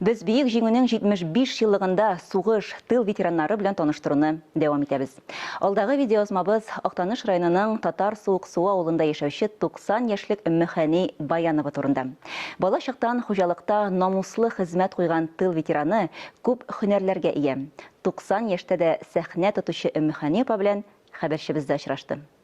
Без Бөек Җиңүнең 75 еллыгында сугыш, тыл ветераннары белән таныштыруны дәвам итәбез. Алдагы видеоязмабыз Актаныш районының Татар Суык Су авылында яшәүче 90 яшьлек Өммехәни Баянова турында. Бала чактан хуҗалыкта намуслы хезмәт куйган тыл ветераны күп һөнәрләргә ия. 90 яшьтә дә сәхнә тотучы Өммехәни апа белән хәбәрчебез дә очрашты.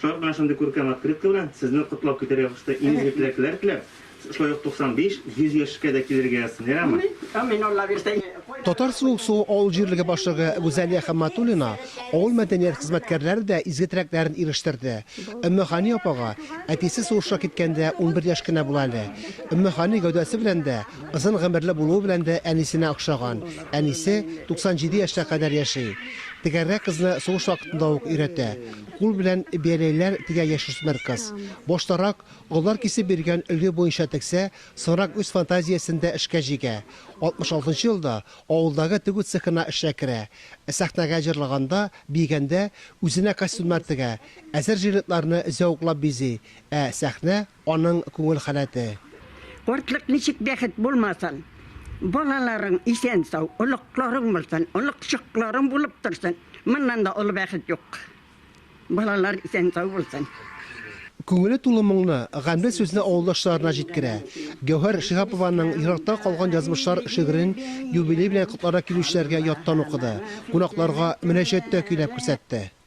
Шулай ук менә шундый күркәм открытка белән сезне котлап китәргә кушты. Имезге теләкләр теләп, шулай ук 95, 100 яшькә дә килергә язсын, ярама? Амин, Алла бирсә. Татар Суык Су авыл җирлеге башлыгы Гүзәлия Хәмматуллина авыл мәдәният хезмәткәрләре дә изге теләкләрен ирештерде. Өммехани апага, әтисе сугышка киткәндә унбер яшь кенә була әле. Өммехани гәүдәсе белән дә, озын гомерле булуы белән дә әнисенә охшаган, әнисе 97 яшьтә кадәр яши. Тегәргә кызны сугыш вакытында ук өйрәтә. Кул белән бәрәйләр тегә яшүсмер кыз. Баштарак, олылар кисеп биргән өлге буенча тегсә, соңрак үз фантазиясен дә эшкә җигә. 66 елда авылдагы тегү цехына эшкә керә. Ә сәхнәгә җырлаганда, биегәндә, үзенә костюмнар тегә, әзер жилетларны зәвыклап бизи, ә сәхнә. Аның күңел халәте. Картлык ничек бәхет булмасын! Балаларың исән-сау, оныкларың булсын, оныкчыкларың булып торсын, моннан да олы бәхет юк. Балалар исән-сау булсын. Күңеле тулы моңны, гамьле сүзне авылдашларына җиткерә. Гәүһәр Шиһапованың Еракта калган язмышлар шигырен юбилей белән котларга килүчеләргә яттан укыды, кунакларга мөнәҗәттә көйләп күрсәтте.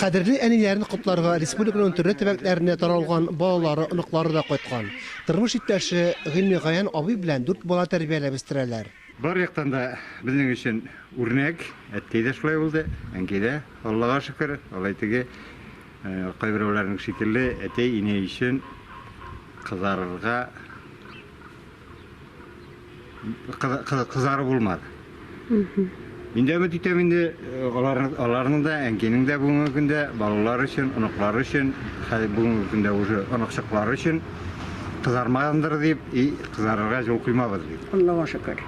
Кадерле әниләрен котларга республиканың төрле төбәкләренә таралган балалары, оныклары да кайткан. Тормыш иптәше Гыйльмегаян абый белән дүрт бала тәрбияләп үстерәләр. Бар яктан да безнең өчен үрнәк. Әткәй дә шулай булды, әнкәй дә, Аллага шөкер. Алай теге кайберәүләрнең шикелле әти-әни өчен кызарырга. кызары булмады. Инде өмет итәм инде э, аларның да, әнкинең дә бүгенге көндә балалар өчен, оныклары өчен, бүгенге көндә уже оныкчыклары өчен кызармагандыр дип, и кызарырга юл куймабыз дип. Аллага шөкер.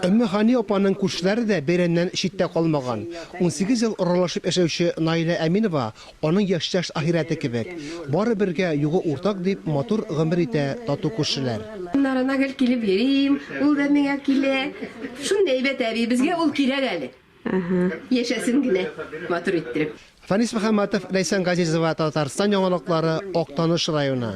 Өмме Хани апаның күршеләре дә бәйрәмнән читтә калмаган. 18 ел аралашып яшәүче Наилә Әминова Аның яшьтәш ахирәте кебек. Бары бергә, югы уртак дип, матур гомер итә тату күршеләр. Аннарына гел килеп йөрим, ул да миңа килә. Шундый әйбәт әби, безгә ул кирәк әле. Яшәсен генә матур иттереп. Фанис Мөхәммәтов, Ләйсән Газизова, Татарстан яңалыклары, Актаныш районы.